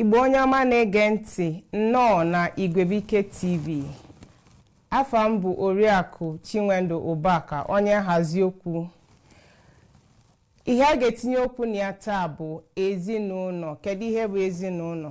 igbo onye ọma na-ege ntị nnọọ na igwebuike tv afa m bụ oriakụ chinwendu ụbaka onye nhazi okwu ihe a ga-etinye okwu na ya taa bụ ezinụlọ kedu ihe bụ ezinụlọ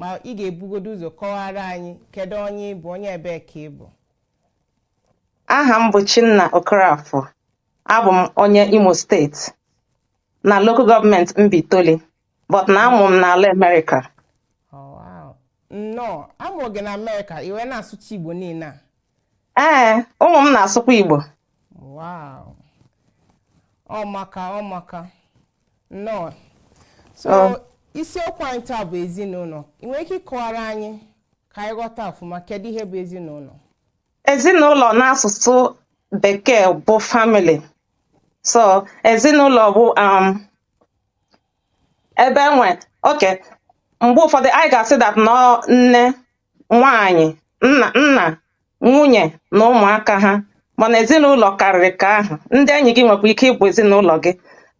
ma ị ga-ebugodo ụzọ kọwara anyị kedu onye ị bụ onye ebee ka ị bụ aha m bụ Chinna Okorafor abụ m onye Imo steeti na local government Mbaitoli but na a mụ m n'ala Amerịka oh, nnọọ a mụ gị na Amerịka i wee na-asụcha Igbo niile a ee ụmụ m na-asụkwa Igbo Wow. Ọ maka ọ maka. Nnọọ. So um, isiokwu anyị taa bụ ezinụlọ. Ị nwere ike ịkọwara anyị ka anyị ghọta ọfụma kedu ihe bụ ezinụlọ? Ezinụlọ n'asụsụ bekee bụ family. So ezinụlọ bụ um, ebe e nwe okay mgbe ụfọdụ anyị ga-asị that na ọ nne nwaanyị nna nna nwunye na ụmụaka ha mana ezinụlọ karịrị ka ahụ ndị enyi gị nwekwa ike ịbụ ezinụlọ gị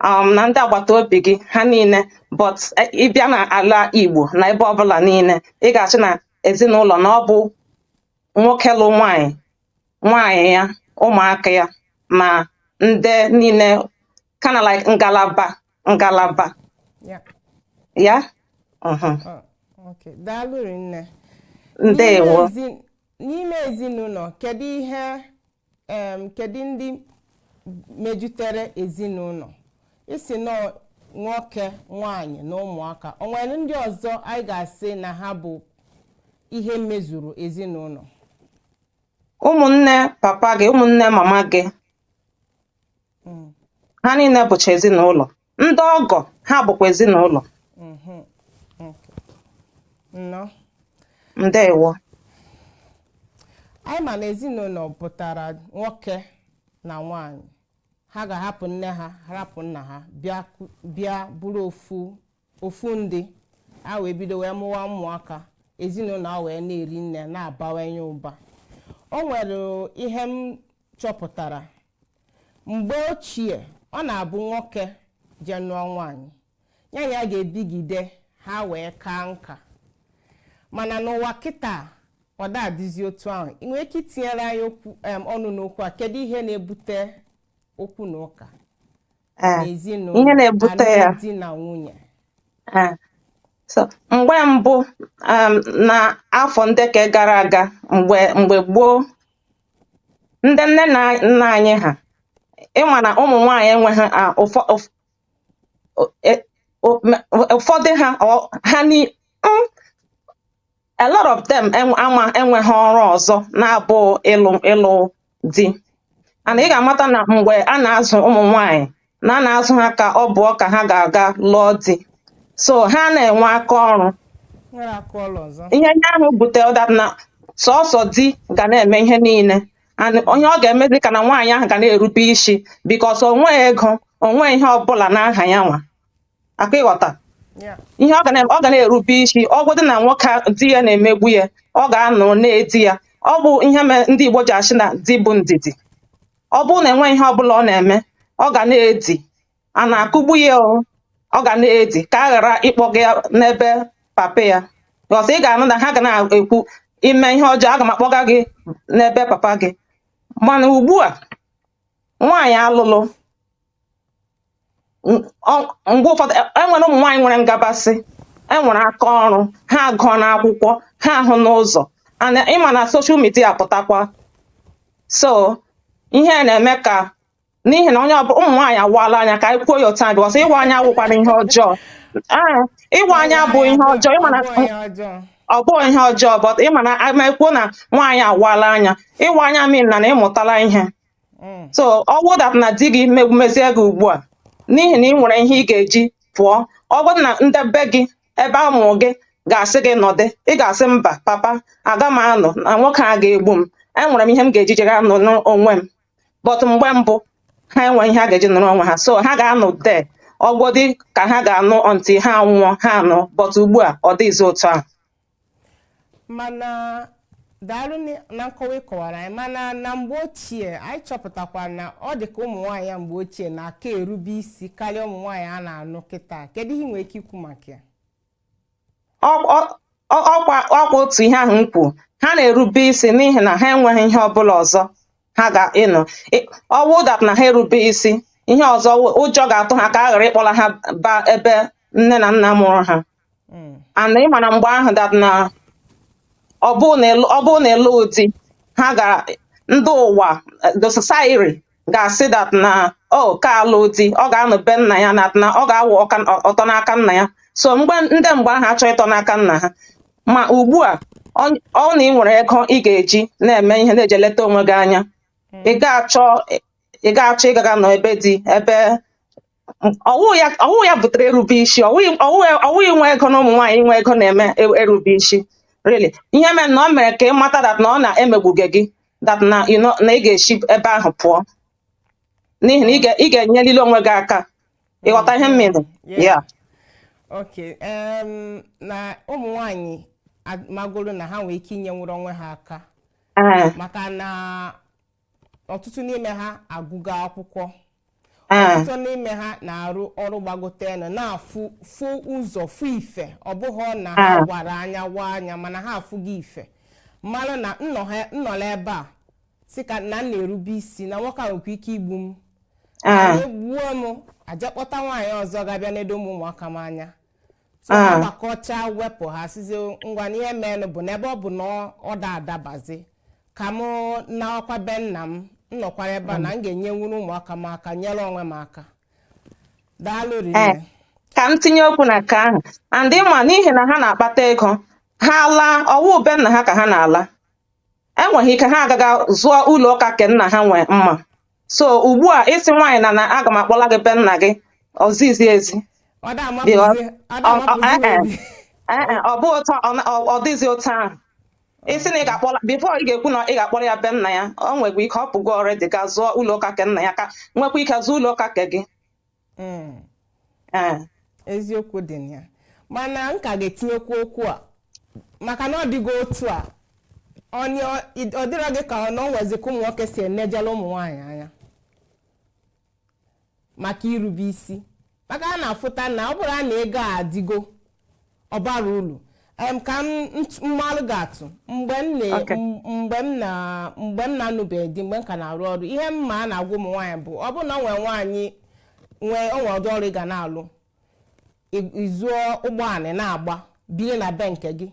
um, na ndị agbata obi gị ha niile but eh, ị bịa na ala Igbo na ebe ọbụla niile ị ga-asị na ezinụlọ na ọ bụ nwoke lụ nwaanyị nwaanyị ya ụmụaka ya na ndị niile kinda like ngalaba ngalaba ya ya mhm. ọ, okay. daalụ rinne ndewo N'ime ezi- n'ime ezinụlọ kedu ihe em, kedu ndị mejutere ezinụlọ ị sị na ọ nwoke nwanyị na ụmụaka o nwere ndị ọzọ anyị ga-asị na ha bụ ihe mezuru ezinụlọ ụmụnne papa gị ụmụnne mama gị ha niile bụcha ezinụlọ ndị ọgọ ha bụkwa ezinụlọ nnọọ ndewo anyị ma na ezinụlọ pụtara nwoke na nwanyị ha ga-ahapụ nne ha hapụ nna ha bịa ku- bịa bụrụ ofu ofu ndị ha wee bido wee mụwa ụmụaka ezinụlọ a wee na-eri nne na-abawanye ụba o nwere ihe m chọpụtara mgbe ochie ọ na-abụ nwoke je nụọ nwaanyị ya na ya ga-ebigide ha wee kaa nka mana n'ụwa kịta ọ da-adịzi otu ahụ ị nwere ike itinyere anyị okwu em, ọnụ n'okwu a kedu ihe na-ebute okwu na ụka eh, n'ezinụlọ ihe na-ebute ya alụmdi na nwunye eh. so mgbe mbụ um, na afọ ndị ka gara aga mgbe mgbe gboo ndị nne na nna anyị ha ịma na ụmụ nwaanyị enweghị ah, ụfọ- ụf- o- e- o- me- ụfọdụ ha ọ- ha ni- mm, a lot of them en- ama enweghị ọrụ ọzọ na-abụ ịlụ ịlụ di and ị ga-amata na mgbe a na-azụ ụmụ nwanyị na a na-azụ ha ka ọ bụ ka ha ga-aga lụọ di so ha anaghị enwe aka ọrụ nwere aka ọrụ ọzọ ihe ndị ahụ butere that na sọsọ di ga na-eme ihe niile and ihe ọ ga-emezi ka na nwaanyị ahụ ga na-erube isi because o nweghị ego o nweghị ihe ọbụla n'aha ya nwa aka ị ghọta ihe ọ ga na-erube isi ọ bụdị na nwoke di ya na-emegbu ya ọ ga-anọ na-edi ya ọ bụ ihe mere ndị Igbo ji asị na di bụ ndidi ọ bụrụ na enweghị ihe ọbụla ọ na-eme ọ ga na-edi a na-akụgbu ya ọ ga na-edi ka a ghara ịkpọga ya n'ebe papa ya so ị ga-anụ na ha ga na-ekwu i mee ihe ọjọọ aga m akpọga gị n'ebe papa gị mana ugbu a nwaanyị alụlụ mgbe ụfọdụ enwere e ụmụ nwaanyị nwere m ga-asị enwere aka ọrụ ha agụọna akwụkwọ ha ahụna ụzọ and ị ma na social media pụtakwa so ihe na-eme ka n'ihi na onye ọbụla ụmụ nwaanyị awaala anya ka anyị kwuo ya otu a because ịwa anya awụkwanụ ihe ọjọọ ee ịwa anya bụ ihe ọjọọ ịma na ọ bụghị ihe ọjọọ but ịma na ma e kwuo na nwaanyị awaala anya ịwa anya mean na na ị mụtala ihe mm. so ọ wụ that na di gị megbuwezie gị ugbu a n'ihi na ị nwere ihe ị ga-eji pụọ ọ bụrụ na ndị be gị ebe a mụrụ gị ga-asị gị nọdị ị ga-asị mba papa aga m anọ na nwoke a ga-egbu m enwere m ihe m ga-eji jere anọ n'onwe m but mgbe mbụ ha enweghị ihe ha ga-eji nọrọ onwe ha so ha ga-anọ de ọ wụdị ka ha ga-anọ until ha nwụọ ha anọ but ugbu a ọ dịghịzi otu a mana daalụ n- na nkọwa ị kọwara anyị mana na mgbe ochie anyị chọpụtakwara na ọ dị ka ụmụ nwaanyị ya mgbe ochie na-aka erube isi karịa ụmụ nwaanyị a na-anụ kịta kedu ihe ị nwere ike ikwu maka ya Ọ- ọ- ọ- ọkwa ọkwa otu ihe ahụ m kwuru ha na-erube isi n'ihi na ha enweghị ihe ọbụla ọzọ ha ga-ịnọ Ị- ọ wụ that na ha erube isi ihe ọzọ wụ- ụjọ ga-atụ ha ka a ghara ịkpọla ha ba ebe nne na nna mụrụ ha hmm. and ị ma na mgbe ahụ that na ọ bụrụ na ịlụ- ọ bụrụ na ịlụ di ha ga ndị ụwa the society ga-asị that na o ka alụ di ọ ga-anọ be nna ya na na ọ ga-awụ ọka- ọ- ọtọ n'aka nna ya so mgbe ndị mgbe ahụ achọ ịtọ n'aka nna ha ma ugbu a ọ ọ na ị nwere ego ị ga-eji na-eme ihe na-eji eleta onwe gị anya ị ga-achọ ị ga-achọ ịgaga nọ ebe di ebe ọ wụ ya ọ wụ ya butere erube isi ọ wụghị ọ wụghị ọ wụghị inwe ego na ụmụ nwaanyị inwe ego na-eme e- erube isi really ihe mere na ọ mere ka ị mata that na ọ na-emegbuge gị that na you know, na ị ga-esi ebe ahụ pụọ n'ihi na ị ga- ị ga-enyelili onwe gị aka ị ghọta ihe m mean Yeah. ya Okay. Um, na ụmụ nwanyị magoro na ha nwere ike inyenwuru onwe ha aka maka na ọtụtụ n'ime ha agụgo akwụkwọ ah. ọtụtụ n'ime ha na-arụ ọrụ gbagotenụ na-afụ fụ ụzọ fụ ife ọ bụghị na ha ah. gwara anya wa anya mana ha afụgo ife mara na m nọla ebe a sị ka na m na-erube isi na nwoke a nwekwa ike igbu m ah. o gbuo m a ja-akpọta nwaanyị ọzọ ga-abịa nedo ụmụ ụmụaka m anya so ha Ah. gbakọcha wepụ ha sịzi ngwa na ihe meenụ bụ na ebe ọ bụ na ọ- ọ da adabazi ka mụ nawakwa be nna m m nọkwara ebe a na m ga-enyenwuru ụmụaka m aka nyere onwe m aka daalụ ee rinne ka m tinye okwu na nke ahụ and ị ma n'ihi na ha na-akpata ego ha laa ọ wụ be nna ha ka ha na-ala enweghị ike ha agaga zụọ ụlọ ka ke nna ha nwee mma so ugbu a ị sị nwaanyị na na aga m akpọla gị be nna gị ọzizi ezi ọ da amapụzi Ọ- ọ ọ- da ọ- amapụzi eh, eh. n'obi Ee e, ọ bụ otu ọ na- ọ ọ dịghịzi otu ahụ ị sị na ị ga-akpọla before ị ga-ekwu na ị ga-akpọla ya be nna ya o nwekwa ike ọ pụgo already ga zụọ ụlọ ka ke nna ya ka nwekwa ike zụọ ụlọ ka ke gị Mm. Ee. eziokwu dị na ya mana m ka ga-etinyekwu okwu a maka na ọ dịgo otu a onye ọ dịrọ gị ka ọ na o nwezi ka ụmụ nwoke si enejela ụmụ nwaanyị anya maka irube isi maka a na-afụta na ọ bụrụ na ego a adịgo ọ bara uru Em, ka m nt- m malụ gị atụ mgbe m na Okay. m- mgbe m na mgbe m na-anụbeghị di mgbe m ka na-arụ ọrụ ihe m ma a na-agwa ụmụ nwaanyị bụ ọ bụrụ na nwee nwaanyị nwee o nwee ụdị ọrụ ị ga na-alụ ị- ị zụọ ụgbọala na-agba biri na be nke gị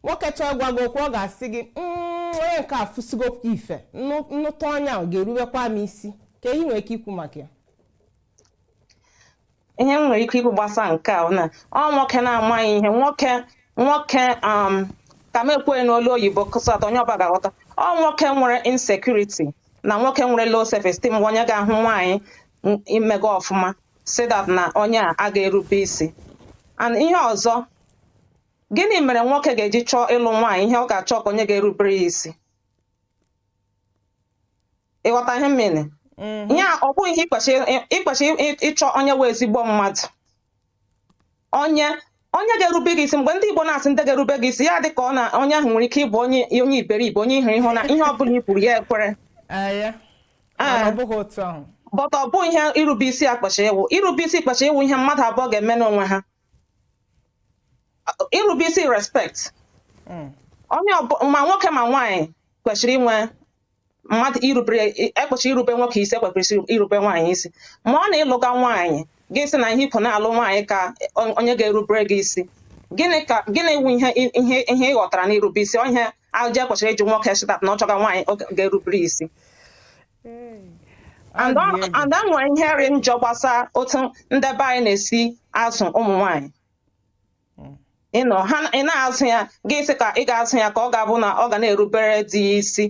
nwoke chọọ ịgwa gị okwu ọ ga-asị gị "Mm, onye nke a fụsigo ife m nụ- m nụta onye ahụ ga-eruwekwa m isi kee ihe i nwere ike ikwu maka ya ihe m nwere ike ikwu gbasa nke a na ọ nwoke na-amaghị ihe nwoke nwoke um, ka m ekwughị n'olu oyibo ka so that onye ọbụla ga-aghọta ọ nwoke nwere insecurity na nwoke nwere low self esteem bụ onye ga-ahụ nwaanyị n- imega ọfụma sị that na onye a aga erube isi and ihe ọzọ gịnị mere nwoke ga-eji chọọ ịlụ nwaanyị ihe ọ ga-achọ ka onye ga-erubere ya isi ị ghọta ihe m mean mm-hmm. ihe a ọ bụghị ihe i kwesị ịchọ onye wụ ezigbo mmadụ onye onye ga-erube gị isi mgbe ndị Igbo na-asị ndị ga-erube gị isi ya dị ka ọ na onye ahụ nwere ike ịbụ onye onye iberibe onye ihere ịhụ na ihe ọ bụla i kwuru ya ekwere ah, ah. but ọ bụ ihe irube isi a kwesị ịwụ irube isi kwesị ịwụ ihe mmadụ abụọ ga-eme n'onwe ha irube isi respect hmm. onye ma nwoke ma nwaanyị kwesịrị inwe mmadụ irubere e kwesịrị irube nwoke isi e kwesịrị irube nwaanyị isi ma ọ na ị lụga nwaanyị gị sị na ihe ikwu na-alụ nwaanyị ka onye ga-erubere gị isi gịnị ka gịnị wu ihe ihe ihe ị ghọtara n'irube isi onye ahụ ji e kwesịrị ịjụ nwoke sị that na ọ chọga nwaanyị ga-erubere isi and nwere ihe rị njọ gbasa otu ndị be anyị na-esi azụ ụmụ nwanyị hmm. you know ha ị na-azụ ya gị sị ka ị ga-azụ ya ka ọ ga-abụ na ọ ga na-erubere di ya isi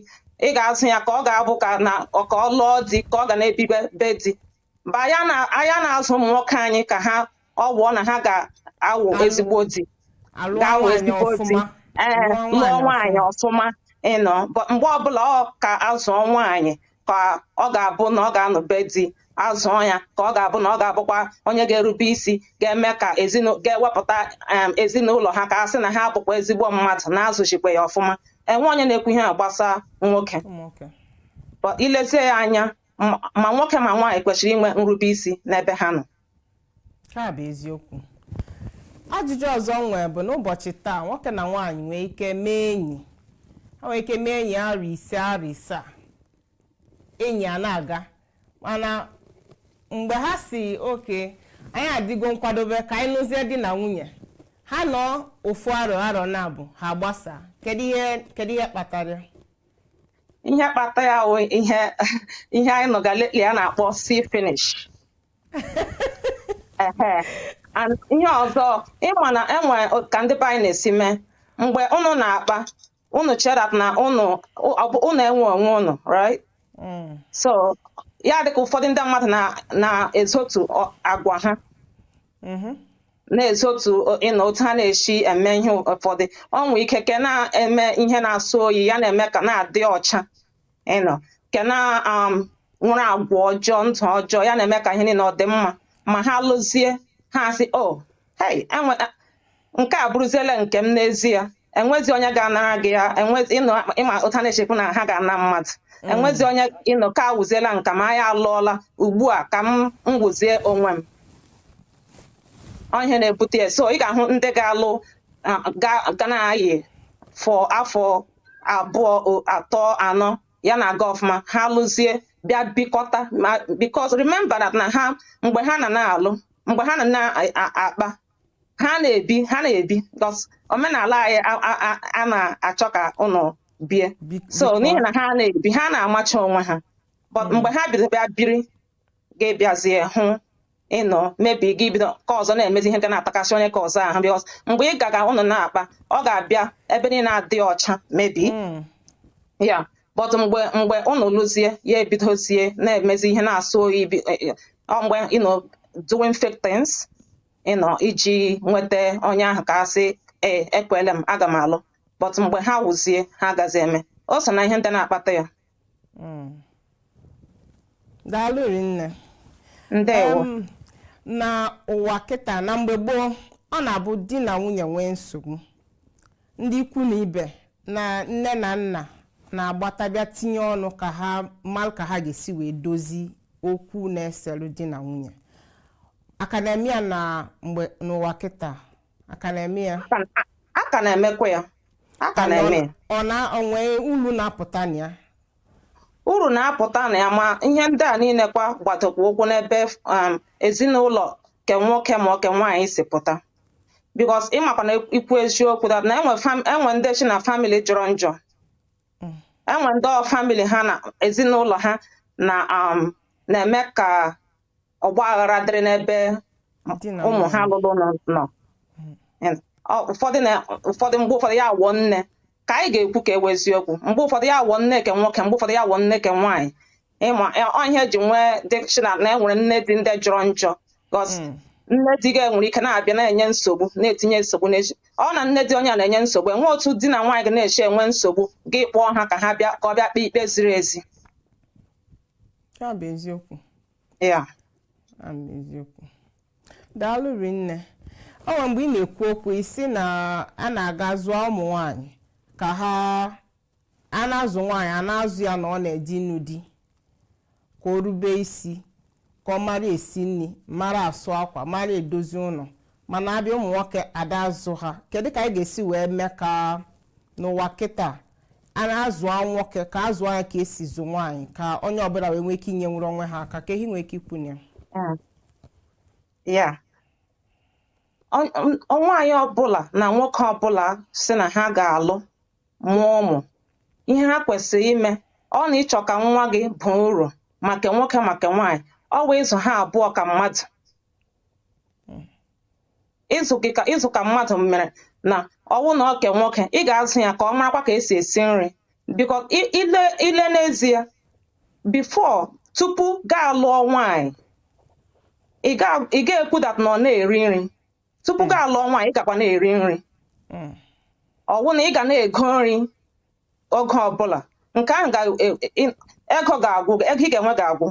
ị ga-azụ ya ka ọ ga-abụ ka na ka ọ lụọ di ka ọ ga na-ebibe be di but anyị ana- anyị ana-azụ ụmụ nwoke anyị ka ha ọ wụọ na ha ga-awụ Ga- ezigbo di alụọ ga-awụ nwaanyị ezigbo di ọfụma ee lụọ lụọ nwaanyị nwaanyị ọfụma you know but mgbe ọbụla ọ ka a zụọ nwaanyị ka ọ ga-abụ na ọ ga-anọ be di azụọ ya ka ọ ga-abụ na ọ ga-abụkwa onye ga-erube isi ga-eme ka ezinu- ga-ewepụta em, ezinụlọ ha ka a sị na ha bụkwa ezigbo mmadụ na a zụzikwa ya ọfụma enwe onye na-ekwu ihe a gbasa nwoke ọfụma. Ụmụ nwoke. But i lezie ya anya ma nwoke ma nwaanyị kwesịrị inwe nrube isi n'ebe ha nọ nke a bụ eziokwu ajụjụ ọzọ m nwere bụ n'ụbọchị taa nwoke na nwaanyị nwee ike mee enyi ha nwee ike mee enyi arọ ise arọ ise a enyi a na-aga mana mgbe ha sị okay anyị adịgo nkwadobe ka anyị nụzie di na nwunye ha nọ ofu arọ arọ naabọ ha gbasaa kedu ihe kedu ihe kpatara ya? ihe kpata ya wụ ihe ihe anyị nụga lately a na-akpọ see finish Ehe. And ihe ọzọ ị ma na e nwe ka ndị be anyị na-esi eme mgbe unu na-akpa unu chee that na unu ọ bụ unu enwe onwe unu right Mm. so ya dịka ụfọdụ ndị mmadụ na- na-ezotu ọ- agwa ha Mhm. na-ezotu you know otu ha na-esi eme ihe ụfọdụ ọ nwee ike ke na-eme ihe na-asọ oyi ya na-eme ka na-adị ọcha you know ke na um, nwere agwa ọjọọ ndụ ọjọọ ya na-eme ka ihe niile ọ dị mma ma ha lụzie ha asị o oh, hey enwe nke a abụrụziele nke m n'ezie enwezi onye ga-anara gị ya enwezi you know ịma otu ha na-echekwu na ha ga-ana mmadụ enwezi onye you know ka awụziela nka m anyị alụọla ugbu a ka m wụzie onwe m ọ ihe na-ebute ya so ị ga-ahụ ndị ga-alụ ah, ga- ga na-ayị for afọ abụọ o- atọ anọ ya na-aga ọfụma ha lụzie bịa bikọta ma because remember that na ha mgbe ha na na-alụ mgbe ha na na-akpa ha na-ebi ha na-ebi because omenala anyị a- a- a- a na-achọ ka ụnụ bie Bi- so bikọọ. n'ihi na ha na-ebi ha na-amacha onwe ha but mgbe ha biri bịa biri gị abịazie hụ you know maybe gị bido ka ọzọ na-emezi ihe ga na-atakasị onye ka ọzọ ahụ because mgbe ị gaga ụnụ na-akpa ọ ga-abịa ebe niile adị ọcha maybe Mm. ya but mgbe mgbe ụnụ lụzie ya ebidozie na-emezi ihe na-asọ oyi bi- eh, eh, ọ mgbe you know doing fake things you know iji nweta onye ahụ ka a sị ee ekwele m aga m alụ but mgbe ha wụzie ha agazi eme o so na ihe ndị na-akpata ya daalụ rinne ndewo Em, na ụwa kịta na mgbe gboo ọ na-abụ di na nwunye nwee nsogbu ndị ikwu na ibe na nne na nna na-agbata bịa tinye ọnụ ka ha mara ka ha ga-esi wee dozi okwu na-eselu di na nwunye a ka na-eme ya na mgbe n'ụwa kịta a ka na-eme ya a ka na-emekwa ya a ka na-eme ya ọ na-enwe ulu na-apụta na ya uru na-apụta na ya ma ihe ndị a niile kwa gbadokwa ụkwụ n'ebe um, ezinụlọ ke nwoke ma ọ ke nwaanyị si pụta because ịmakwa na ikwu eziokwu that na enwe ndị chi na family jọrọ njọ mm. enwe ndị family ha na ezinụlọ ha na um, na-eme ka ọgba aghara dịrị n'ebe ụmụ ha lụrụ nọ mm. ụfọdụ mgbe ụfọdụ ya awụọ nne ka anyị ga-ekwu ka ewe eziokwu mgbe ụfọdụ ya awụọ nne ke nwoke mgbe ụfọdụ ya awụọ nne ke nwaanyị ịma ọ ihe eji nwee this thing a na enwere nne di ndị jọrọ njọ because hmm. nne di gị enwere ike na-abịa na-enye nsogbu na-etinye nsogbu n'echi ọ na nne di onye a na-enye nsogbu enwe otu di na nwaanyị ga na-echi enwe nsogbu gị akpọọ ha ka ha bịa ka ọ bịa kpee ikpe ziri ezi ya bụ eziokwu ya bụ eziokwu daalụ rinne ọ nwere mgbe ị na-ekwu okwu ị sị na a na-aga zụọ ụmụ nwanyị ka ha a na-azụ nwaanyị a na-azụ ya na ọ na-eje ịnụ di ka o rube isi ka ọ mara esi nri mara asụ akwa mara edozi ụlọ mana a bịa ụmụ nwoke ada azụ ha kedu ka anyị ga-esi wee mee ka n'ụwa kịta a na-azụ nwoke ka a zụọ ya ka esi zụ nwaanyị ka onye ọbụla wee nwee ike inyenwuru onwe ha aka kee ihe i nwee ike ikwu na ya ya nwaanyị ọbụla na nwoke ọbụla sị na ha ga-alụ mụọ ụmụ ihe ha kwesịrị ime ọ na ị chọọ ka nwa gị baa uru maka nwoke maka nwaanyị ọwụ ịzụ ha abụọ ka mmadụ ịzụ ka mmadụ mere na ọwụ na ọ ke nwoke ị ga-azụ ya ka ọ marakwa ka esi esi nri because i lee n'ezie before tupu gaa lụọ nwaanyị ị ga-ekwu that na ọ na-eri nri tupu hmm. gaa lụọ nwaanyị ị gakwa na-eri nri hmm. ọwụ na ị ga na-ego nri oge ọbụla nke ahụ ga- e- e- ego ga-agwụ gị, ego ị ga-enwe ga-agwụ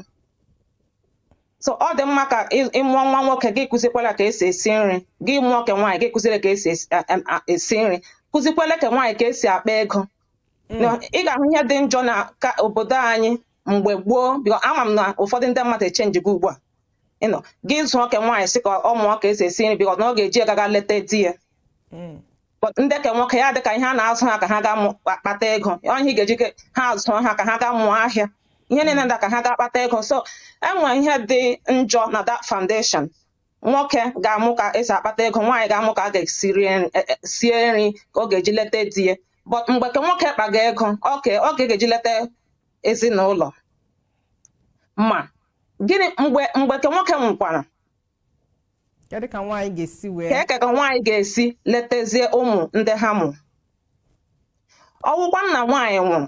so ọ dị mma ka ị- ị mụọ nwa nwoke gị kụzikwala ka esi esi nri gị mụọ ke nwaanyị gị kụziere ka esi esi- a- a- a- esi nri kụzikwala ke nwaanyị ka esi akpa ego Na ị ga-ahụ ihe dị njọ na obodo anyị mgbe gboo because ama m na ụfọdụ ndị mmadụ echangego ugbu a you know gị zụọ ke nwaanyị sị ka ọ mụọ ka esi esi nri because na ọ ga-eji ya gaa leta di ya But ndị ke nwoke ya adị ka ihe a na-azụ ha ka ha gaa mụ- kpa- kpata ego ọ ihe ị ga-eji ke- ha azụọ ha ka ha gaa mụọ ahịa ihe niile ndị a ka ha gaa kpata ego so enwe ihe dị njọ na that foundation nwoke ga-amụ ka esi akpata ego nwaanyị ga-amụ ka a ga-esi rie nri- eh, eh, sie nri ke ọ ga-eji leta di ya but mgbe ke nwoke kpaga ego ke ọ ga-eji leta ezinụlọ ma gịnị mgbe mgbe ke nwoke nwụkwara Kedu ka nwaanyị ga-esi wee ka kee ka nwaanyị ga-esi letazie ụmụ ndị ha mụ ọwụkwa na nwaanyị nwụrụ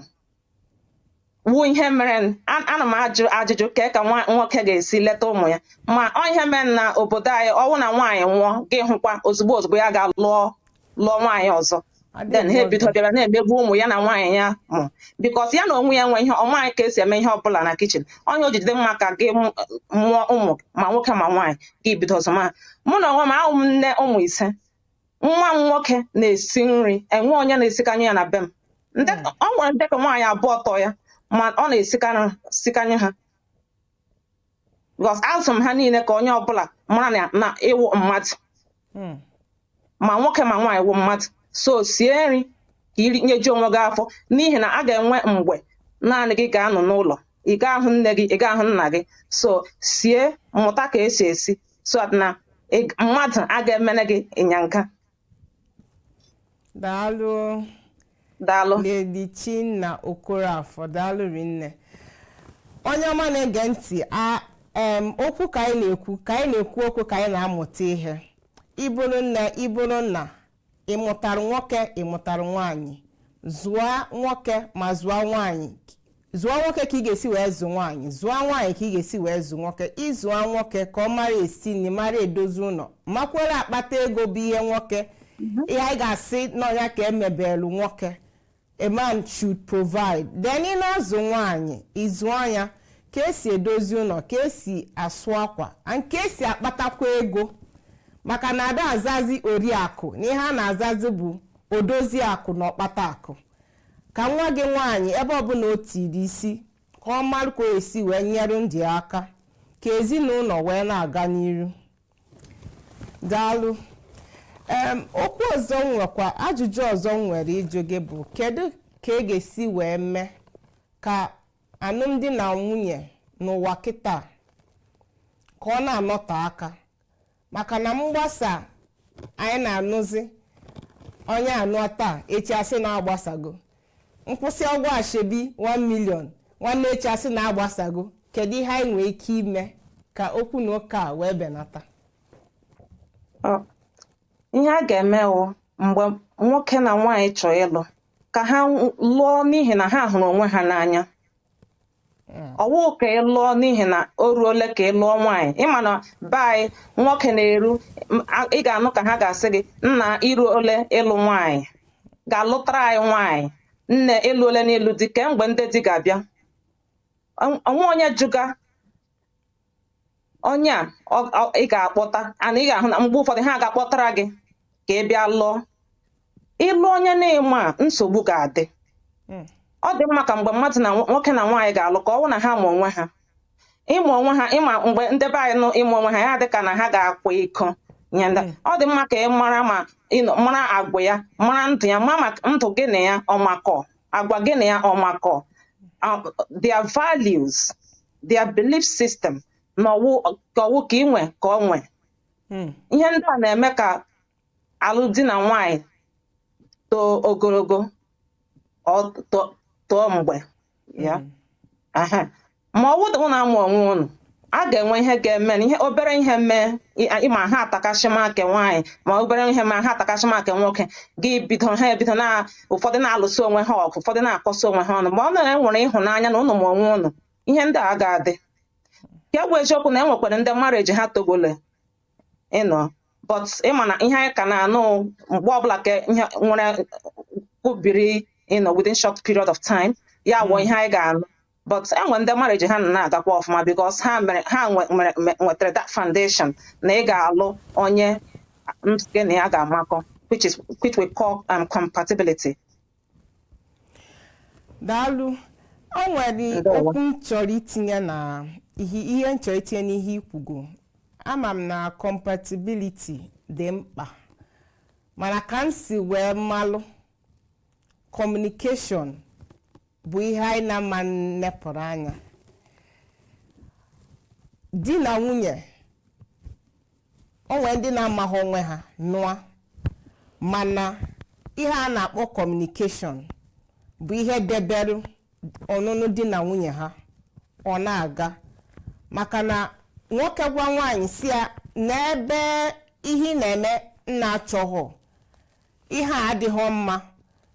wu ihe mere n- a- ana m ajụ ajụjụ ka ka nwa- nwoke ga-esi leta ụmụ ya ma ọ ihe mere na obodo anyị ọwụ na nwaanyị nwụọ gị hụkwa ozugbo ozugbo ya gaa lụọ lụọ nwaanyị ọzọ then ha ebido bịa na-emegbu ụmụ ya na nwaanyị ya mụ because ya na onwe ya enwe ihe ọ maanyị ka esi eme ihe ọbụla na kitchen ọ ihe o ji dị mma ka gị mụ- mụọ ụmụ ma nwoke ma nwaanyị gị bido zụma mụ na onwe m awụ m nne ụmụ ise nwa m nwoke na-esi nri enwe onye na-esikanye ya na be m Ndị- ọ nwere ndị ke nwaanyị abụọ tọ ya ma ọ na-esikanye sikanye ha because azụ m ha niile ka onye ọbụla mara na- na ị wụ mmadụ Mm. ma nwoke ma nwaanyị wụ mmadụ so sie nri ka i rinyeju onwe gị afọ n'ihi na a ga-enwe mgbe naanị gị ga-anọ n'ụlọ ị ga-ahụ nne gị ị ga-ahụ nna gị so sie mụta ka esi esi so that na ị- mmadụ a ga-emere gị ịnyanga daalụ daalụ Lady Chinna Okorafor daalụ rinne onye ọma na-ege ntị a em okwu ka anyị na-ekwu ka anyị na-ekwu okwu ka anyị na-amụta ihe ị bụrụ nne ị bụrụ nna ị mụtara nwoke ị mụtara nwaanyị zụọ nwoke ma zụọ nwaanyị zụọ nwoke ka ị ga-esi wee zụ nwaanyị zụọ nwaanyị ka ị ga-esi wee zụ nwoke ị zụọ nwoke ka ọ mara esi nri mara edozi ụlọ makwara akpata ego bụ ihe nwoke ihe anyị ga-asị na ọ nya ka e mebelu nwoke a man should provide then ị na-azụ nwaanyị ị zụọ ya ka esi edozi ụlọ ka esi asụ akwa and ka esi akpatakwa ego maka na ada azazi oriakụ na ihe a na-azazi bụ odozi akụ na ọkpata akụ ka nwa gị nwaanyị ebe ọbụla o tiri isi ka ọ mara ka o esi wee nyere di ya aka ka ezinụlọ wee na-aga n'iru daalụ em okwu ọzọ m nwekwa ajụjụ ọzọ m nwere ịjụ gị bụ kedu ka a ga-esi wee mee ka alụmdi na nwunye n'ụwa kịta ka ọ na-anọte aka maka na mgbasa anyị na-anụzi onye a nụọ taa echi asị na agbasago m kwụsịa ụgwọ ashebi 1 million nwanne echi asị na agbasago kedu ihe anyị nwee ike ime ka okwu na ụka a wee benata Ọ, ihe a ga-eme wụ mgbe nwoke na nwaanyị chọọ ịlụ ka ha lụọ n'ihi na ha hụrụ onwe ha n'anya hmm. ọ wụ ka ị lụọ n'ihi na o ruole ka ị lụọ nwaanyị ị ma na be anyị nwoke na-eru ị ga-anụ ka ha ga-asị gị nna i ruole ịlụ nwaanyị gaa lụtara anyị nwaanyị nne i ruole n'ịlụ di kee mgbe ndị di ga-abịa o nwee onye jụga onye a ị ga-akpọta ana ị ga-ahụ na mgbe ụfọdụ ha ga-akpọtara gị ka ị bịa lụọ ị lụ onye na ị maa nsogbu ga-adị hmm. ọ dị mma ka mgbe mmadụ na nwoke na nwaanyị ga-alụ ka ọ wụ na ha ma onwe ha ịma onwe ha ị ma mgbe ndị be anyị nụ ịma onwe ha ya dị ka na ha ga-akwa iko nye ndị hmm. ọ dị mma ka ị mara ma mara agwa ya mara ndụ ya mara maka ndụ gị na ya ọ makọ agwa gị na ya ọ makọ their values their belief system na ọwụ ka ọwụ ka inwe ka ọ nwe hmm. ihe ndị a na-eme ka alụmdi na nwanyị too ogologo too mgbe ya hmm. ma ọ wụ ụnụ ama onwe ụnụ a ga-enwe ihe ga-eme ihe obere ihe mee ịma ha atakashima nke nwaanyị ma obere ihe mee ha atakashima nke nwoke gị bido ha ebido na ụfọdụ na-alụsị onwe ha ọgụ ụfọdụ na-akọsị onwe ha ọnụ ma ọ na enwere ịhụnanya na ụnụ ma onwe ụnụ ihe ndị a ga-adị ya bụ eziokwu na enwekwara ndị marriage ha togole you know but ịma na ihe anyị ka na-anụ mgbe ọbụla ka ihe nwere kwubiri you know within short period of time ya wụ ihe anyị ga-anụ but enwe ndị marriage ha na-agakwa ọfụma because ha mere ha nwetara that foundation na ị ga-alụ onye gị na ya ga-amakọ which is which we call um, compatibility daalụ o nwere okwu m chọrọ itinye na ihe m chọrọ itinye n'ihe i kwugo ama m na compatibility dị mkpa mana ka m si wee malụ communication bụ ihe anyị na-ama nepụrụ anya di na nwunye o nwere ndị na-amaghị onwe ha nụa mana ihe a na-akpọ communication bụ ihe debere ọnụnụ di na nwunye ha ọ na-aga maka na nwoke gwa nwaanyị sị ya nebe ihe ị na-eme m na-achọghọ ihe a adịghị mma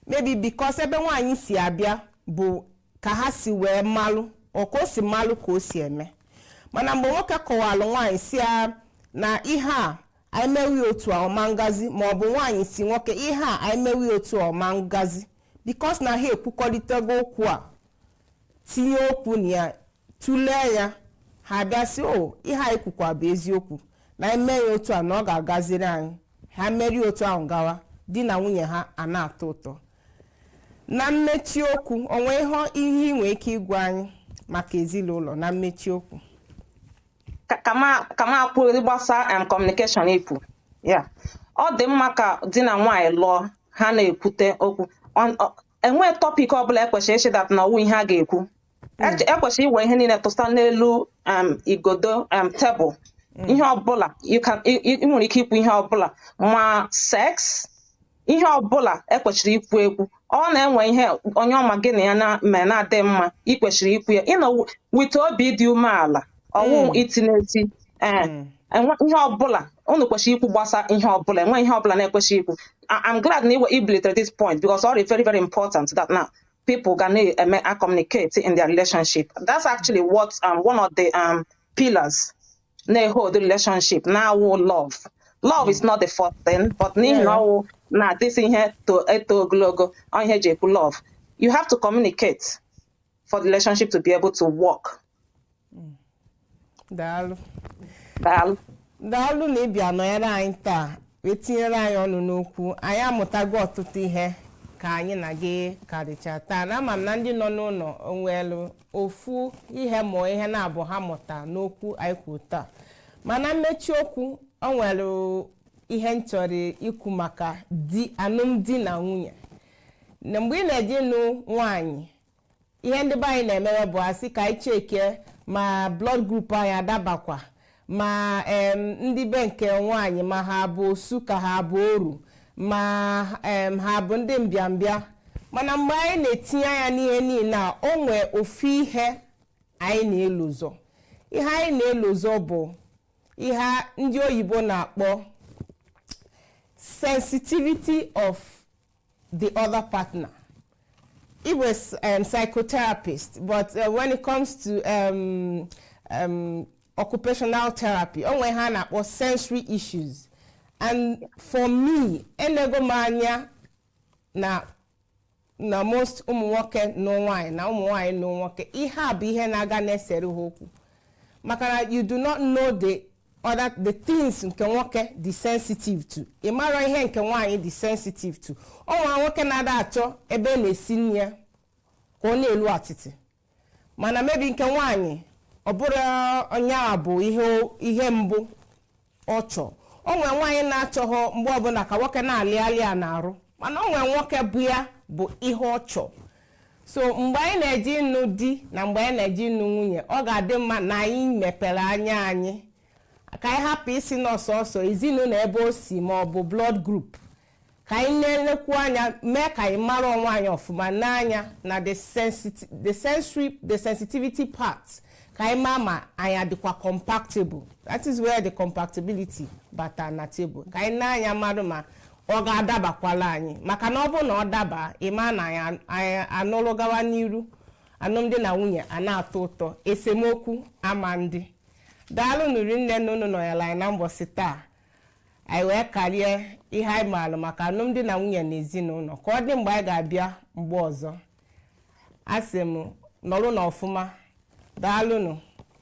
maybe because ebe nwaanyị si abịa bụ ka ha si wee malụ or ka o si malụ ka o si eme mana mgbe nwoke kọwalụ nwaanyị sị ya na ihe a anyị mewe ya otu a ọ ma ngazi ma ọ bụ nwaanyị sị nwoke ihe a anyị mewe ya otu a ọ ma ngazi because na ha ekwukọrịtago okwu a tinye okwu na ya tụlee ya ha bịa sị o ihe anyị kwukwa bụ eziokwu na anyị mee ya otu a na ọ ga-agaziri anyị ha merie otu ahụ gawa di na nwunye ha a na-atọ ụtọ na mmechi okwu o nwere ihe ihe ị nwere ike ịgwa anyị maka ezinụlọ na mmechi okwu ka ka m ka m kwuo gbasara em communication ikwu ya ọ dị mma ka di na nwaanyị lụọ ha na-ekwute okwu Ọ- ọ- enweghị topic ọbụla ekwesịrị ịsị that na ọwụ ihe a ga-ekwu ekwesịrị iwe ihe niile tụsa n'elu um, igodo um, tebụl mm. ihe ọbụla ị nwere ike ikwu ihe ọbụla ma sex ihe ọbụla ekwesịrị ikwu ekwu ọ na-enwe ihe onye ọma gị na ya mere na-adịghị mma i kwesịrị ikwu ya you know with obi dị umeala ọwụ Mm. iti n'eti ee Mm. enwe ihe ọbụla unu kwesịrị ikwu gbasa ihe ọbụla enwe ihe ọbụla na-ekwesịghị ikwu I- I'm glad na i webilitere this point because ọ dị very very important that now people ga na-eme a communicate in their relationship that's actually what um, one of the um, pillars na-ehold relationship na-awụ love love is not the first thing but n'ihi na Yeah. ọwụ na this ihe to eto ogologo ọ ihe eji ekwu love you have to communicate for the relationship to be able to work. Mm. Daalụ. Daalụ. Daalụ na ịbịa nọnyere anyị taa wee tinyere anyị ọnụ n'okwu anyị amụtago ọtụtụ ihe ka anyị na gị karịcha taa na ama m na ndị nọ n'ụlọ o nwelu ofu ihe mọọ ihe naabọ ha mụta n'okwu anyị kwu taa mana mmechi okwu o nwere ihe m chọrọ ikwu maka di alụmdi na nwunye na mgbe ị na-eje ịnụ nwaanyị ihe ndị be anyị na-emewe bụ a sị ka anyị chekie ma blood group anyị adabakwa ma em, ndị be nke nwaanyị ma ha bụ osu ka ha bụ oru ma em, ha bụ ndị mbịambịa mana mgbe anyị na-etinye anya n'ihe niile a o nwee ofu ihe anyị na-elozọ ihe anyị na-elozọ bụ ihe ndị oyibo na-akpọ sensitivity of the other partner. He was um, psychotherapist, but uh, when it comes to um, um, occupational therapy, o nwee ihe a na-akpọ sensory issues. And for me, enego m anya na na most ụmụ nwoke nụ nwaanyị na ụmụ nwaanyị nụ nwoke ihe a bụ ihe na-aga na-esere ha okwu maka na you do not know the other the things nke nwoke dị sensitive to ị mara ihe nke nwaanyị dị sensitive to o nwere nwoke na-ada achọ ebe a na-esi nri ya ka ọ na-elu atịtị mana maybe nke nwaanyị ọ bụrụ nya bụ ihe ihe mbụ ọ chọọ o nwere nwaanyị na-achọghọ mgbe ọbụla ka nwoke na-alị alị ya n'arụ mana o nwere nwoke bụ ya bụ ihe ọ chọọ so mgbe anyị na-eje ịnụ di na mgbe anyị na-eje ịnụ nwunye ọ ga-adị mma na anyị mepere anya anyị ka anyị hapụ ịsị na ọ sọsọ ezinụlọ ebe o si ma ọ bụ blood group ka anyị na-elekwu anya mee ka anyị mara onwe anyị ọfụma n'anya na the sensit- the sensory the sensitivity part ka anyị maa ma anyị adịkwa compactable that is where the compactability bata na table ka anyị nee anya malụ ma ọ ga-adabakwala anyị maka na ọ bụrụ na ọ daba ị ma na anyị an- anyị anụrụ gawa n'iru alụmdi na nwunye a na-atọ ụtọ esemokwu ama adị daalụnụ rinne na unu nọnyere anyị na mbọsị taa anyị wee karịa ihe anyị maara maka alụmdi na nwunye na ezinụlọ ka ọ dị mgbe anyị ga-abịa mgbe ọzọ asị m nọrọnụ ọfụma daalụnụ